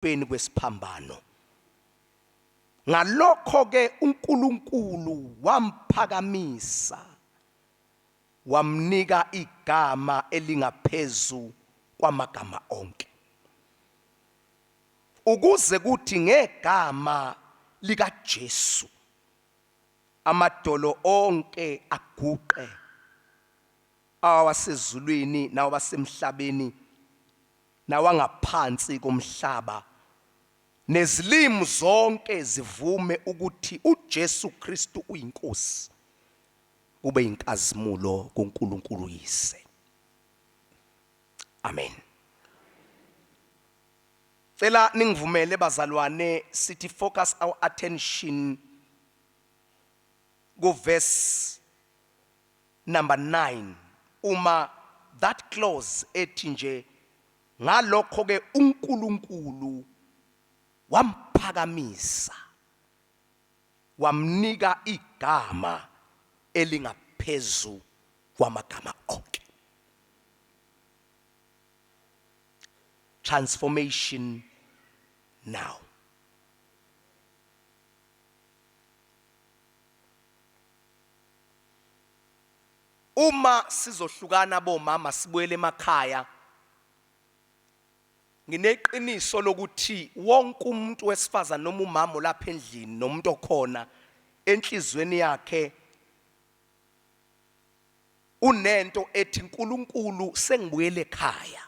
ekubeni kwesiphambano. Ngalokho-ke uNkulunkulu wamphakamisa, wamnika igama elingaphezu kwamagama onke, ukuze kuthi ngegama likaJesu amadolo onke aguqe, awasezulwini nawasemhlabeni nawangaphansi komhlaba, nezilimi zonke zivume ukuthi uJesu Kristu uyiNkosi, kube yinkazimulo kuNkulunkulu uYise. Amen. Cela ningivumele bazalwane sithi focus our attention ku verse number nine uma that clause ethi nje ngalokho-ke uNkulunkulu wamphakamisa wamnika igama elingaphezu kwamagama onke. Transformation now. Uma sizohlukana bomama sibuyele emakhaya ngineqiniso lokuthi wonke umuntu wesifazane noma umama olapha endlini nomuntu okhona enhlizweni yakhe unento ethi uNkulunkulu sengibuyele ekhaya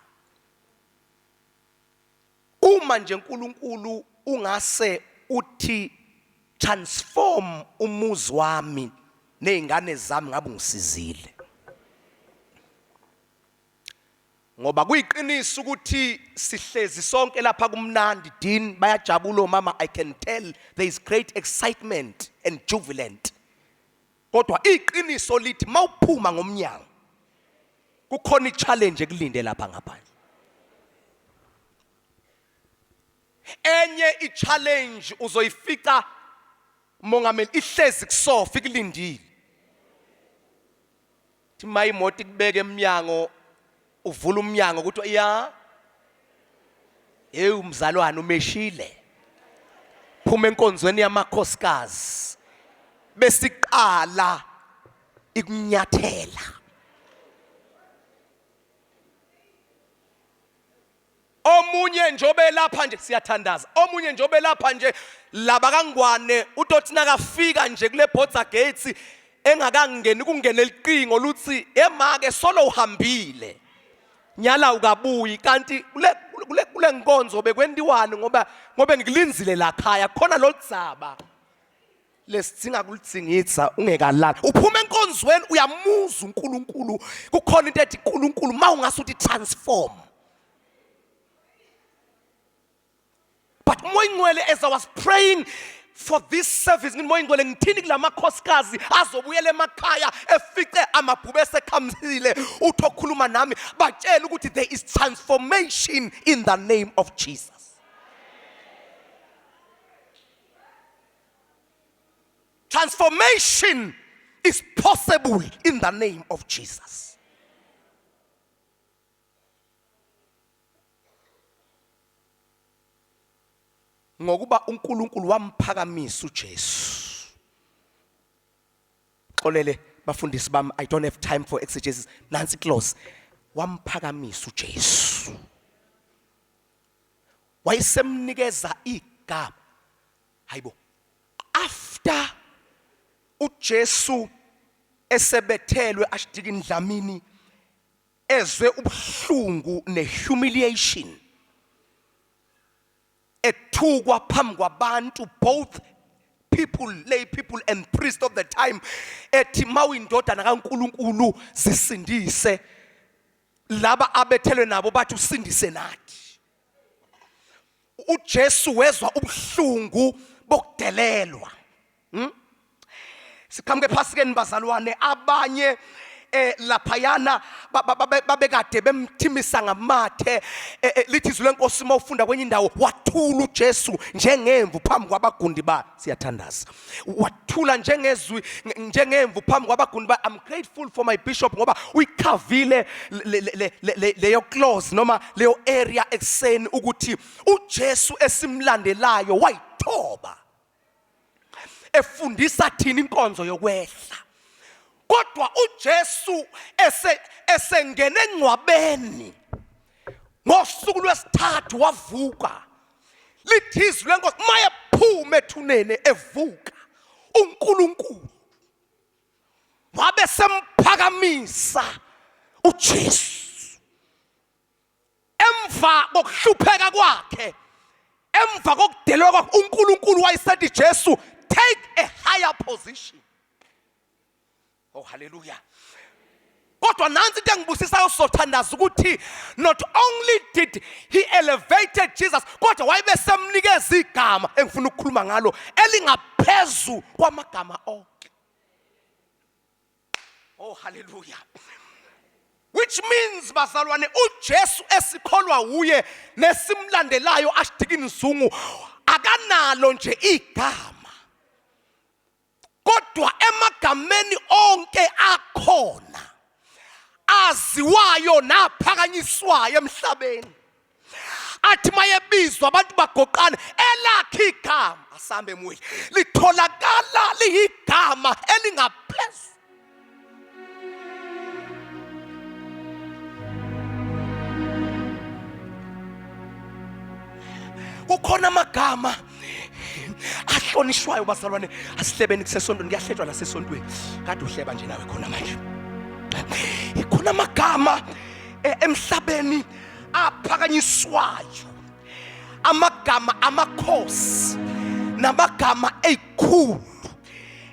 Uma nje Nkulunkulu ungase uthi transform umuzi wami nezingane zami ngabe ungisizile. Ngoba kuyiqiniso ukuthi sihlezi sonke lapha kumnandi Dean bayajabula omama I can tell there is great excitement and jubilant. Kodwa iqiniso lithi mawuphuma ngomnyango kukhona ichallenge ekulinde lapha ngaphandle. Enye ichallenge uzoyifica mongameli ihlezi kusofa ikulindile. Thi uma imoto ikubeka emnyango uvula umnyango kuthiwa ya hey umzalwane umeshile phuma enkonzweni yamakhosikazi besiqala ikunyathela omunye nje obelapha nje siyathandaza omunye nje obelapha nje laba kangwane utothi nakafika nje kule border gates engakangeni kungena eliqingo luthi emake solo uhambile nyala ukabuyi kanti kule kule kule nkonzo bekwentiwani ngoba ngobe ngikulinzile la khaya khona lodzaba lesidzinga kulitsingidza ungekalali uphuma enkonzweni uyamuza uNkulunkulu kukhona into ethi uNkulunkulu mawungase uthi transform but umoya ingcwele as i was praying for this service ngithi moya ingcwele ngithini kulamakhosikazi azobuyela emakhaya efice amabhube esekhamisile uthi okhuluma nami batshela ukuthi there is transformation in the name of Jesus Transformation is possible in the name of Jesus. ngokuba uNkulunkulu wamphakamisa uJesu xolele bafundisi bami i don't have time for exegesis nansi close wamphakamisa uJesu wayesemnikeza igama hayibo after uJesu esebethelwe ashidika indlamini ezwe ubuhlungu nehumiliation ethukwa phambi kwabantu both people lay people and priest of the time ethi mawuyindodana kaNkuluNkulu zisindise laba abethelwe nabo bathi usindise nathi uJesu wezwa ubuhlungu bokudelelwa hmm? siqhamuke ephasikeni bazalwane abanye eh laphayana babekade bemthimisa ngamathe eh, eh, lithi izwi lenkosi uma ufunda kwenye indawo wathula uJesu njengemvu phambi kwabagundi ba siyathandaza wathula njengezwi njengemvu phambi kwabaguni ba I'm grateful for my bishop ngoba uyikhavile leyo clause noma leyo area ekuseni ukuthi uJesu esimlandelayo wayithoba efundisa thina inkonzo yokwehla kodwa uJesu ese esengene engcwabeni ngosuku lwesithathu wavuka lithi izwi lenkosi mayephuma ethuneni evuka uNkulunkulu wabe semphakamisa uJesu emva kokuhlupheka kwakhe emva kokudelwa kwakhe uNkulunkulu wayesethi Jesu take a higher position Oh hallelujah. Kodwa nansi into engibusisayo sothandaza ukuthi not only did he elevated Jesus kodwa wayibe semnikeza igama engifuna ukukhuluma ngalo elingaphezu kwamagama onke. Oh hallelujah. which means bazalwane uJesu esikholwa wuye nesimlandelayo ashidikini zungu akanalo nje igama kodwa emagameni onke akhona aziwayo naphakanyiswayo emhlabeni athi mayebizwa abantu bagoqana elakhe igama asambe muhle litholakala liyigama elingaphezulu kukhona amagama ahlonishwayo bazalwane asihlebeni kusesontweni kuyahlejwa nasesontweni kade uhleba nje nawe khona manje ikhona amagama e, emhlabeni aphakanyiswayo amagama amakhosi namagama ezikhulu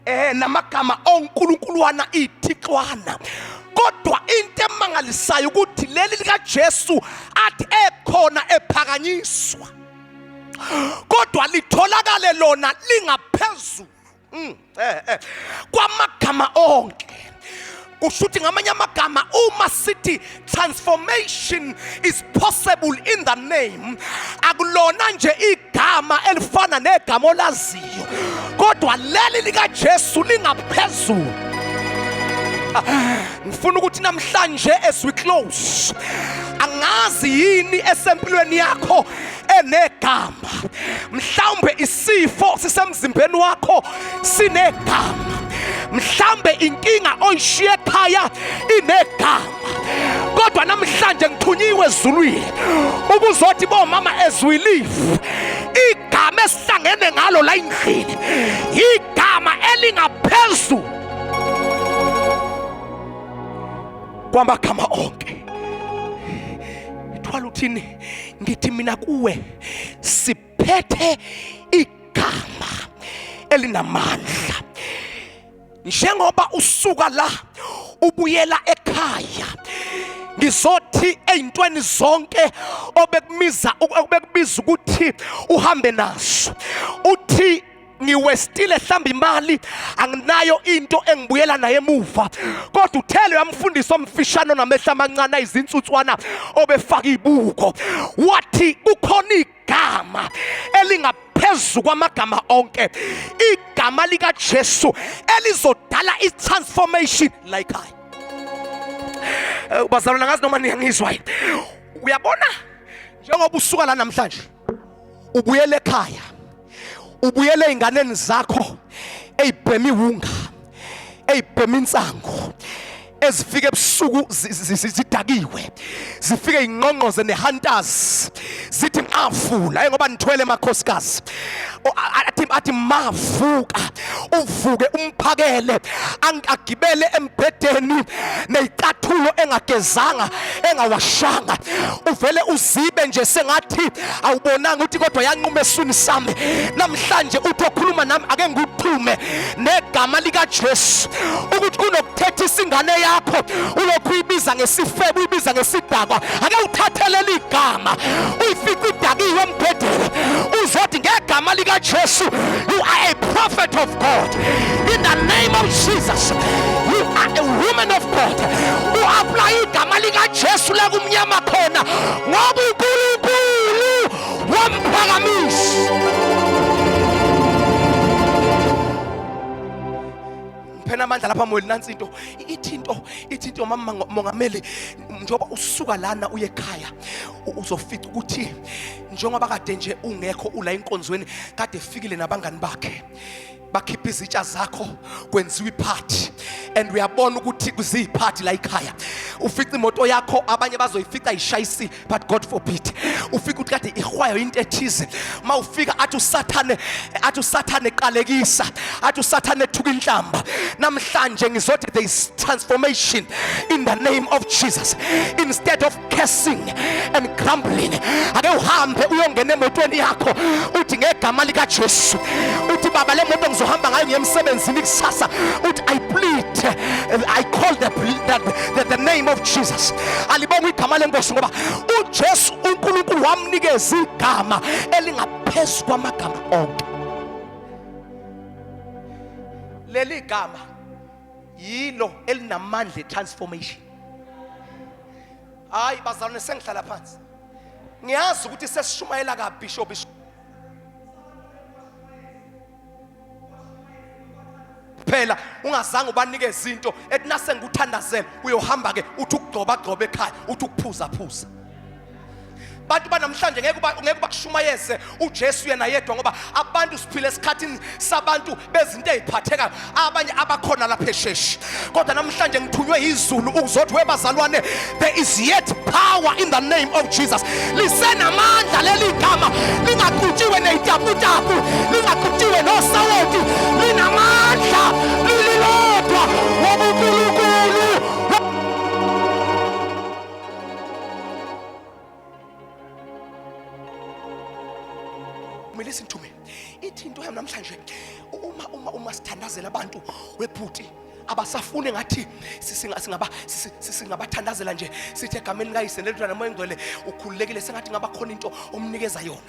eh namagama onkulunkulwana ithixwana kodwa into emangalisayo ukuthi leli likaJesu athi ekhona ephakanyiswa kodwa litholakale lona lingaphezulu mm, eh, eh, kwamagama onke kusho ukuthi ngamanye amagama uma sithi transformation is possible in the name akulona nje igama elifana negama olaziyo kodwa leli likaJesu lingaphezulu ngifuna ukuthi namhlanje as we close angazi yini esempilweni yakho enegama mhlawumbe isifo sisemzimbeni wakho sinegama mhlambe inkinga oyishiye ekhaya inegama kodwa namhlanje ngithunyiwe ezulwini ukuzothi bomama ezwilifu igama esihlangene ngalo la endlini igama elingaphezulu kwamagama onke thwala uthini ngithi mina kuwe siphethe igama elinamandla njengoba usuka la ubuyela ekhaya ngizothi ezintweni zonke obekumiza obekubiza ukuthi uhambe nazo uthi ngiwestile hlamba imali anginayo into engibuyela naye emuva kodwa uthele uyamfundisa omfishane onamehla amancane ayizinsutswana obefaka ibuko wathi kukhona igama elinga phezu kwamagama onke igama likaJesu elizodala itransformation like I eh, bazalwana ngazi noma niyangizwa uyabona njengoba usuka la namhlanje ubuyele ekhaya ubuyele ey'nganeni zakho ey'bhema iwunga ey'bhema insangu ezifika ebusuku zidakiwe zifike ingqongqoze nehantazi zithi mavula ngoba nithwele emakhosikazi athi mavuka uvuke umphakele agibele embhedeni neyicathulo engagezanga engawashanga uvele uzibe nje sengathi awubonanga ukuthi kodwa yanquma eswini sami namhlanje uthi okhuluma nami ake ngikuxhume negama likaJesu ukuthi kunokuthetha isingane yakho ulokhu uyibiza ngesifebe uyibiza ngesidakwa ake uthathelele igama uyifica idakiwe embhedeni uzothi ngegama likaJesu You are a prophet of God. In the name of Jesus. You are a woman of God. U apply igama lika Jesu la kumnyama khona ngoba uNkulunkulu wamphakamisa. phela amandla lapha moyeni nansi into ithi into ithi into mama mongameli njengoba usuka lana uye ekhaya uzofica ukuthi njengoba kade nje ungekho ula enkonzweni kade fikile nabangani bakhe bakhipha izitsha zakho kwenziwa iphathi and uyabona ukuthi kuziyiphathi la ikhaya ufica imoto yakho abanye bazoyifica ishayisi but god forbid ufika ukuthi kade ihwayo into ethize uma ufika athi usathane athi usathane eqalekisa athi usathane ethuka inhlamba namhlanje ngizothi there is transformation in the name of jesus instead of cursing and grumbling ake uhambe uyongena emotweni yakho uthi ngegama likaJesu uthi baba le moto ngizohamba ngayo ngiyemsebenzini kusasa uthi i plead i call the, the, the, the name of Jesus alibonga igama lenkosi ngoba uJesu uNkulunkulu wamnikeza igama elingaphezu kwamagama onke leli gama yilo elinamandla transformation hayi bazalwane sengihlala phansi ngiyazi ukuthi sesishumayela kabishop kuphela ungazange ubanike izinto ethi nasengikuthandazela uyohamba ke uthi ukugcoba gcoba ekhaya uthi ukuphuzaphuza abantu banamhlanje ngeke ngeke bakushumayeze uJesu yena yedwa ngoba abantu siphila esikhathini sabantu bezinto eziphathekayo abanye abakhona lapha esheshi kodwa namhlanje ngithunywe izulu ukuzothi webazalwane there is yet power in the name of Jesus lisenamandla leli gama lingaqutshiwe nezitaputapu lingaqutshiwe nosawoti linamandla lililodwa wobunkulunkulu kumele sinthume ithinto yami namhlanje uma uma uma sithandazela abantu webhuti abasafune ngathi singaba singabathandazela nje sithi egameni likayise lelidlwana moya engcwele ukhululekile sengathi ngabakhona into omnikeza yona